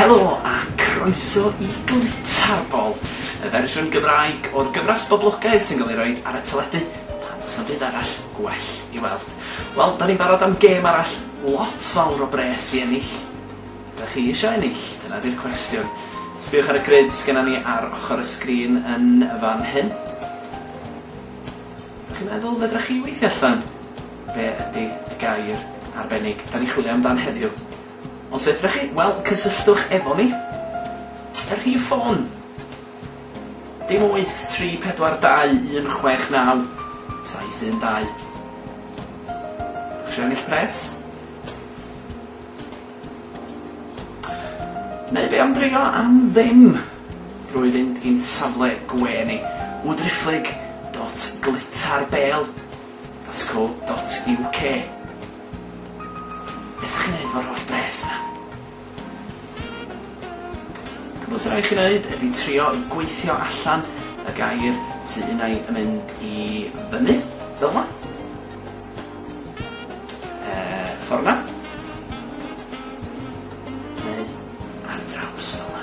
Helo a croeso i Glitarbol, y fersiwn Gymraeg o'r gyfres boblogaidd sy'n cael ei roi ar y teledu pan does na byd arall gwell i weld. Wel, da ni'n barod am gêm arall lot fawr o bres i ennill. Da chi eisiau ennill? Dyna di'r cwestiwn. Sbiwch ar y grid sgynna ni ar ochr y sgrin yn fan hyn. Da chi'n meddwl fedra chi weithio allan? Be ydy y gair arbennig? Da ni chwilio amdan heddiw. Os fedrwch chi, wel, cysylltwch efo ni. Y rhif ffôn, dim 834216972. Dach chi isio ennill pres? Neu be am dreulio am ddim drwy fynd i'n safle gwe ni, wdrifflig.glitterbale.co.uk. Be' 'sa chi'n neud efo'r holl bres 'na? Cwbwl sy rai' chi neud ydi trio i gweithio allan y gair sy unai yn mynd i fyny, fel 'na. Yy, ffor 'na. Neu ar draws fel 'na.